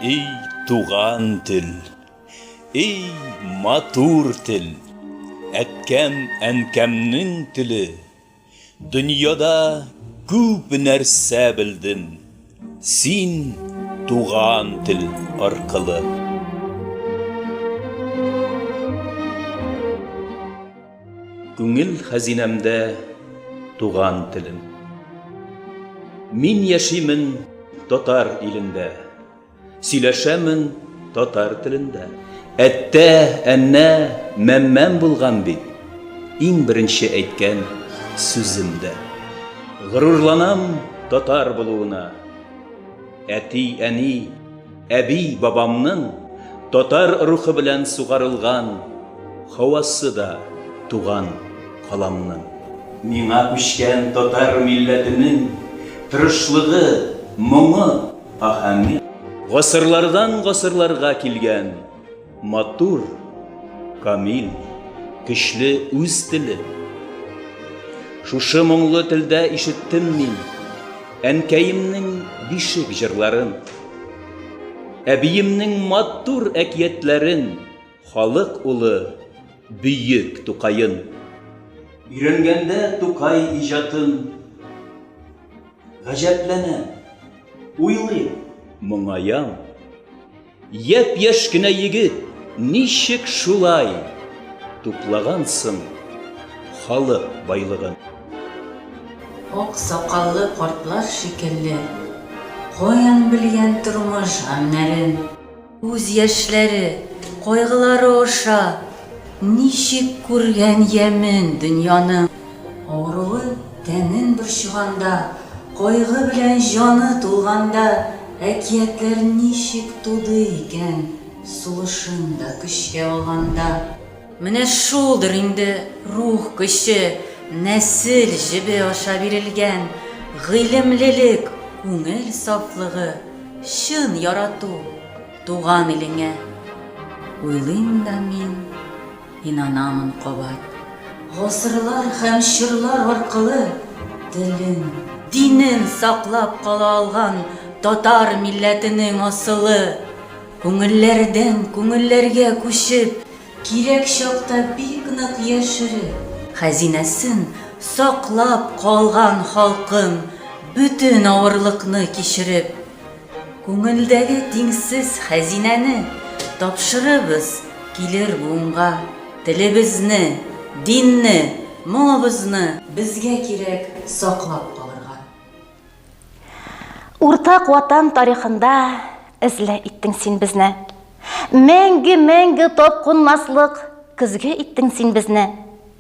Эй, туган тел, эй, матур тел, әткәм, әнкәмнең теле, дөньяда күп нәрсә белдем, син туган тел аркылы. Күңел хәзинәмдә туган телем. Мин яшимен татар илендә. Сөйләшәмен татар телендә. Әттә, әннә, мәммәм булган бит. Иң беренче әйткән сүземдә. Горурланам татар булуына. Әти, әни. Әби-бабамның татар рухы белән сугарылган һавасы да туган каламның. Миңа күчкән татар милләтенең тырышлыгы, моңы, аһәңе. Гасырлардан гасырларга килгән. Матур, камил, көчле үз теле. Шушы моңлы телдә ишеттем мин әнкәемнең бишек җырларын. Әбиемнең матур әкиятләрен, халык улы бөек Тукаен. Өйрәнгәндә Тукай иҗатын гаҗәпләнәм, уйлыйм, моңаям. Яп яш кенә егет ничек шулай туплаган соң халык байлыгын? Ак сакаллы картлар шикелле. Каян белгән тормыш гамьнәрен? Күз яшьләре, кайгылары аша. Ничек күргән ямен дөньяның? Авыруы тәнен борчыганда, Кайгы белән җаны тулганда, Әкиятләр ничек туды икән, Сулышын да көчкә алганда? Менә шулдыр инде рух көче, Нәсел җебе аша бирелгән, Гыйлемлелек, күңел сафлыгы, Чын ярату туган илеңә. Уйлыйм да мин. Инанамын кабат. Гасырлар һәм чорлар аркылы телен, динен саклап кала алган татар милләтенең асылы күңелләрдән күңелләргә күчеп, кирәк чакта бик нык яшереп, хәзинәсен саклап калган халкым бөтен авырлыкны кичереп, Күңелдәге тиңсез хәзинәне тапшырыбыз килер буынга, телебезне, динне, моңыбызны. Безгә кирәк саклап калырга. Уртак Ватан тарихында эзле иттең син безне. Мәңге-мәңге тапкунмаслык көзге иттең син безне.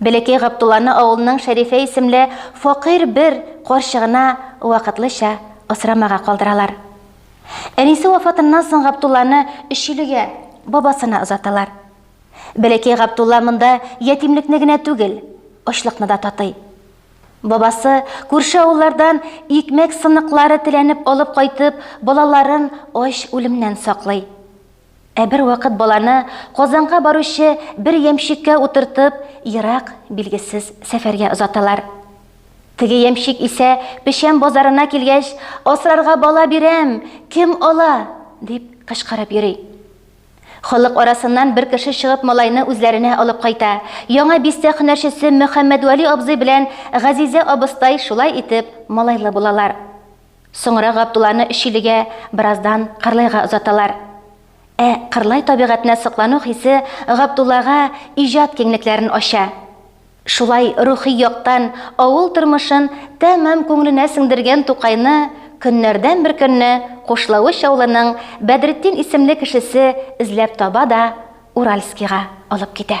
Бәләкәй Габдулланы авылның Шәрифә исемле факыйрь бер карчыгына вакытлыча асрамага калдыралар. Әнисе вафатыннан соң Габдулланы Өчилегә, бабасына озаталар. Бәләкәй Габдулла монда ятимлекне генә түгел, ачлыкны да татый. Бабасы, күрше авыллардан икмәк сыныклары теләнеп алып кайтып, балаларын ач үлемнән саклый. Ә бервакыт баланы Казанга баручы бер ямщикка утыртып, ерак, билгесез сәфәргә озаталар. Теге ямщик исә печән базарына килгәч, Асрарга бала бирәм, кем ала? дип кычкырып йөри. Халык арасыннан бер кеше чыгып малайны үзләренә алып кайта. Яңа Бистә һөнәрчесе Мөхәммәдвәли абзый белән Газизә абыстай шулай итеп малайлы булалар. Соңра Габдулланы Өчилегә, бераздан Кырлайга озаталар. Ә Кырлай табигатенә соклану хисе Габдуллага иҗат киңлекләрен ача. Шулай рухи яктан авыл тормышын тәмам күңеленә сеңдергән Тукайны көннәрдән бер көнне Кушлавыч авылының Бәдретдин исемле кешесе эзләп таба да Уральскига алып китә.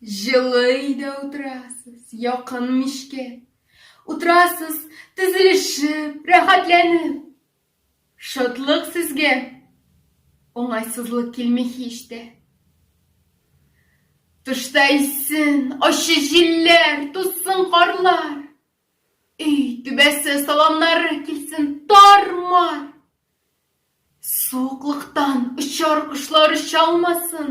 Җылый да утырасыз, якын мичкә. Утырасыз, тезелешеп, рәхәтләнеп. Шатлык сезгә, уңайсызлык килми һич тә. Тышта иссен, ачы җилләр, тузсын карлар. Өй түбәсе саламнары килсен тар-мар. Суыклыктан очар кошлар оча алмасын.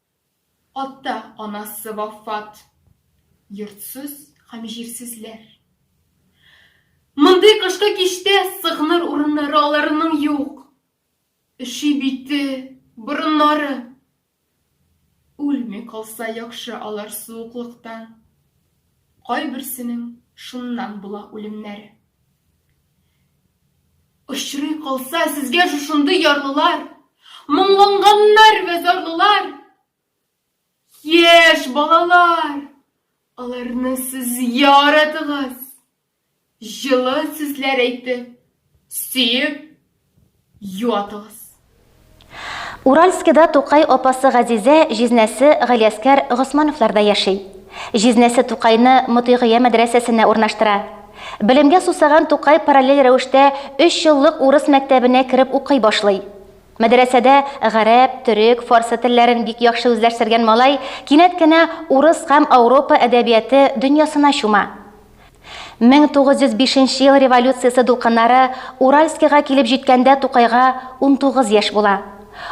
Ата, анасы вафат. Йортсыз һәм җирсезләр. Мондый кышкы кичтә сыгыныр урыннары аларының юк. Өши бите, борыннары. Үлми калса яхшы алар суыклыктан. Кайберсенең шуннан була үлемнәре. Очрый калса сезгә шушындый ярлылар, Моңланганнар вә зарлылар, Яшь балалар, аларны сез яратыгыз, Җылы сүзләр әйтеп, сөеп Юатыгыз. Уральскида Тукай апасы Газизә, җизнәсе Галиәскәр Госмановларда яши. Җизнәсе Тукайны Мотыйгыя мәдрәсәсенә урнаштыра. Белемгә сусаган Тукай параллель рәвештә өч еллык урыс мәктәбенә кереп укый башлый. Мәдрәсәдә гарәп, төрек, фарсы телләрен бик яхшы үзләштергән малай кинәт кенә урыс һәм Ауропа әдәбияты дөньясына чума. 1905 нче ел революциясе дулкыннары Уральскига килеп җиткәндә Тукайга 19 яшь була.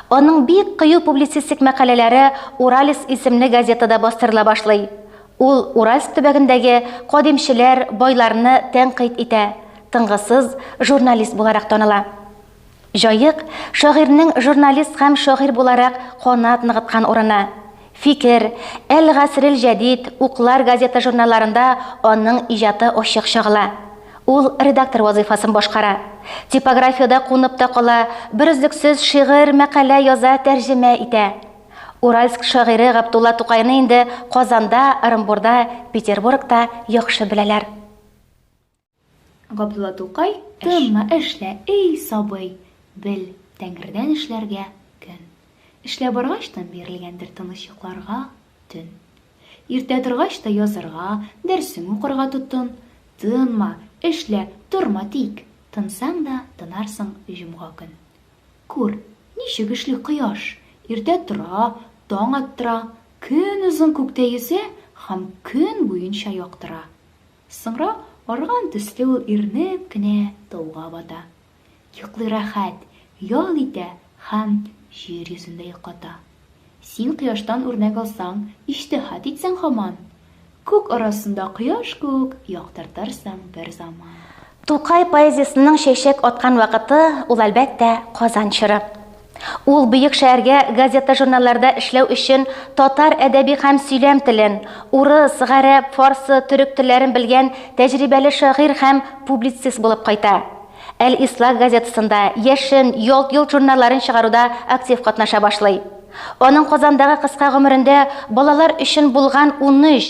Аның бик кыю публицистик мәкаләләре Уралец исемле газетада бастырыла башлый. Ул Уральск төбәгендәге кадимчеләр, байларны тәнкыйть итә, тынгысыз журналист буларак таныла. Җаек, шагыйрьнең журналист һәм шагыйрь буларак канат ныгыткан урыны. Фикер, Әл-Гасрел Җәдид, Уклар газета-журналларында аның иҗаты ачык чагыла. Ул редактор вазыйфасын башкара. Типографиядә кунып та кала, берөзлексез шигырь, мәкалә яза, тәрҗемә итә. Уральск шагыйре Габдулла Тукайны инде Казанда, Ырымбурда, Петербургта яхшы беләләр. Габдулла Тукай, Тынма, эшлә, эй, сабый, бел, Тәңредән эшләргә көн. Эшләп баргач та бирелгәндер тыныч йокларга төн. Иртә торгач та язырга, дәрсең укырга тотын. Тынма, эшлә, торма тик, тынсаң да тынарсың җомга көн. Күр, ничек эшли кояш, иртә тора, таң аттыра, көнозын күктә йөзә һәм көн буенча яктыра. Соңра арган төсле ул ирнеп кенә тауга бата. Йоклый рәхәт, ял итә һәм җир йөзендә йоклата. Син кояштан үрнәк алсаң, иҗтиһат итсәң һаман, күк арасында кояш кук яктыртырсың бер заман. Тукай поэзиясенең чәчәк аткан вакыты, ул, әлбәттә, Казан чоры. Ул бөек шәһәргә газета-журналларда эшләү өчен татар әдәби һәм сөйләм телен, урыс, гарәп, фарсы, төрек телләрен белгән тәҗрибәле шагыйрь һәм публицист булып кайта. Әл-Ислах газетасында, Яшен, Ялт-йолт журналларын чыгаруда актив катнаша башлый. Аның Казандагы кыска гомерендә балалар өчен булган унөч.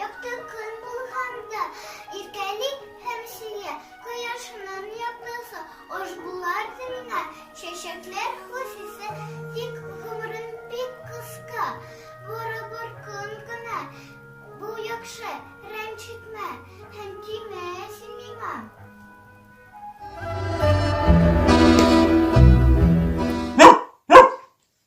Якты көн булганда, иркәли һәм сөя, Кояшның яктысы аш булар земля, Чәчәкләр хуш исе, тик гомерең бик кыска, Барыбер көн генә, бу яхшы, рәнҗетмә, Һәм тимә син миңа.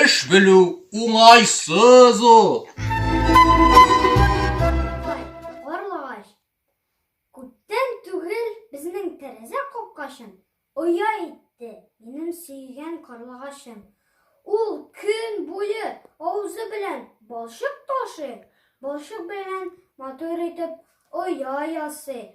Эш белү уңайсыз ул. карлыгачым, оя итте минем сөйгән карлыгачым. Ул көн буе авызы белән балчык ташый, балчык белән матур итеп оя ясый.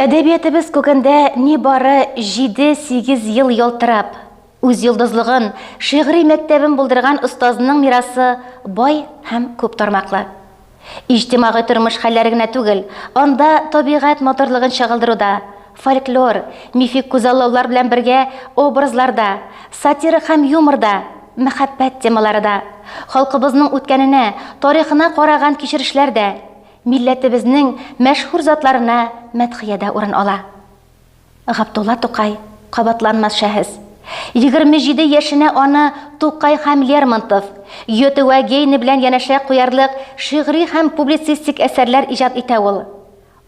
Әдәбиятыбыз күгендә ни бары 7-8 ел ялтырап, үз йолдызлыгын, шигъри мәктәбен булдырган остазның мирасы бай һәм күп тармаклы. Иҗтимагый тормыш хәлләре генә түгел, анда табигать матурлыгын чагылдыруда, фольклор, мифик күзаллаулар белән бергә образларда, сатирик һәм юморда, мәхәббәт темалары да, халкыбызның үткәненә, тарихына караган кичерешләр дә, милләтебезнең мәшһүр затларына мәдхиядә урын ала. Габдулла Тукай, кабатланмас шәһес. Егерме җиде яшенә аны Тукай һәм Лермонтов, Гёте вә Гейне белән янәшә куярлык шигъри һәм публицистик әсәрләр иҗат итә ул.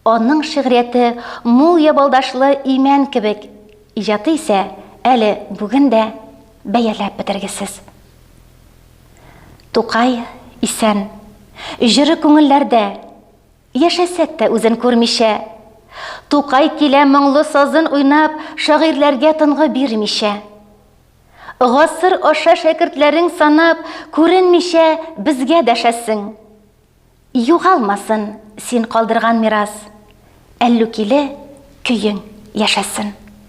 Аның шигърияте мул ябалдашлы имән кебек, иҗаты исә әле бүген дә бәяләп бетергесез. Тукай исән, җыры күңелләрдә. Яшәсәк тә үзен күрмичә. Тукай килә моңлы сазын уйнап, Шагыйрьләргә тынгы бирмичә. Гасыр аша шәкертләрең санап, Күренмичә безгә дәшәсең. Югалмасын син калдырган мирас, Әллүкиле көең яшәсен.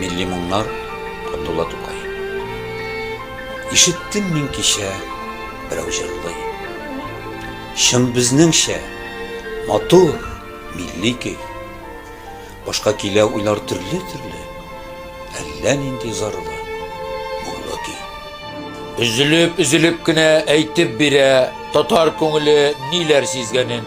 Милли моңнар Габдулла Тукай Ишеттем мин кичә, берәү җырлый. Чын безнеңчә, матур, милли көй. Башка килә уйлар төрле-төрле, әллә нинди зарлы, моңлы көй. Өзелеп-өзелеп кенә әйтеп бирә татар күңеле ниләр сизгәнен.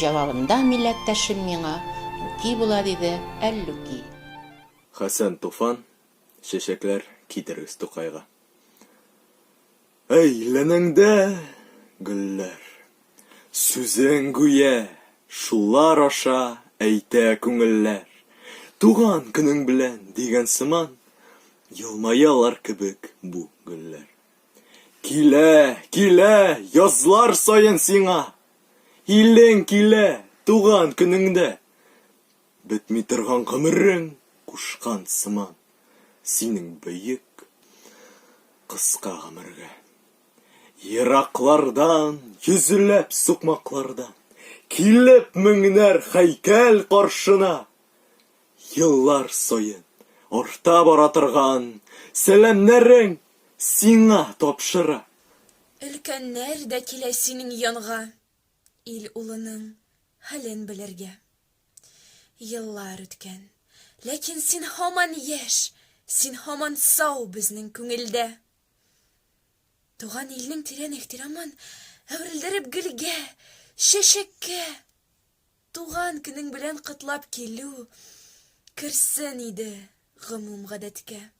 Җавабында милләттәшем миңа Үки була диде, Әллүки. Хәсән Туфан, Чәчәкләр китерегез Тукайга. Әйләнәңдә, гөлләр. Сүзең гүя шулар аша әйтә күңелләр. Туган көнең белән дигән сыман елмаялар кебек бу гөлләр. Килә, килә язлар саен сиңа Илең килә, туган көнеңдә. Бетми торган гомерең кушкан сыман, Синең бөек, кыска гомергә. Ераклардан, йөзләп сукмаклардан, Килеп меңнәр һәйкәл каршына, Еллар саен арта бара торган Сәламнәрең сиңа тапшыра. Өлкәннәр дә килә синең янга, Ил улының хәлен белергә. Еллар үткән, ләкин син һаман яшь, Син һаман сау безнең күңелдә. Туган илнең тирән ихтирамын Әверелдереп гөлгә, чәчәккә. Туган көнең белән котлап килү Керсен иде гомум гадәткә.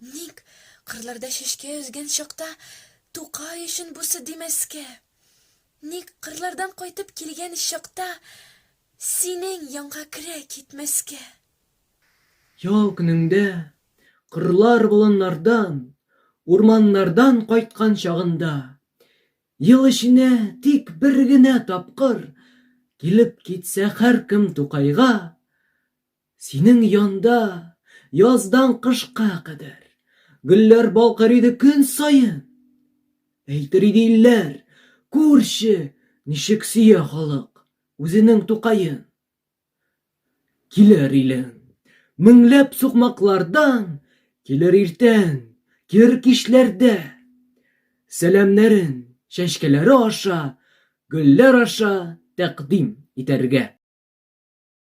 Ник, кырларда чәчкә өзгән чакта, Тукай өчен бусы димәскә? Ник, кырлардан кайтып килгән чакта, Синең янга керә китмәскә? Ял көнеңдә, кырлар болыннардан, Урманнардан кайткан чагында, Ел эченә тик бер генә тапкыр Килеп китсә һәркем Тукайга, Синең янда, яздан кышка кадәр, Гөлләр балкыр иде көн саен. Әйтер иде илләр, Күрче, ничек сөя халык Үзенең Тукаен. Килер илең, меңләп сукмаклардан, Килер иртән, кер кичләрдә. Сәламнәрен, чәчкәләре аша, Гөлләр аша тәкъдим итәргә.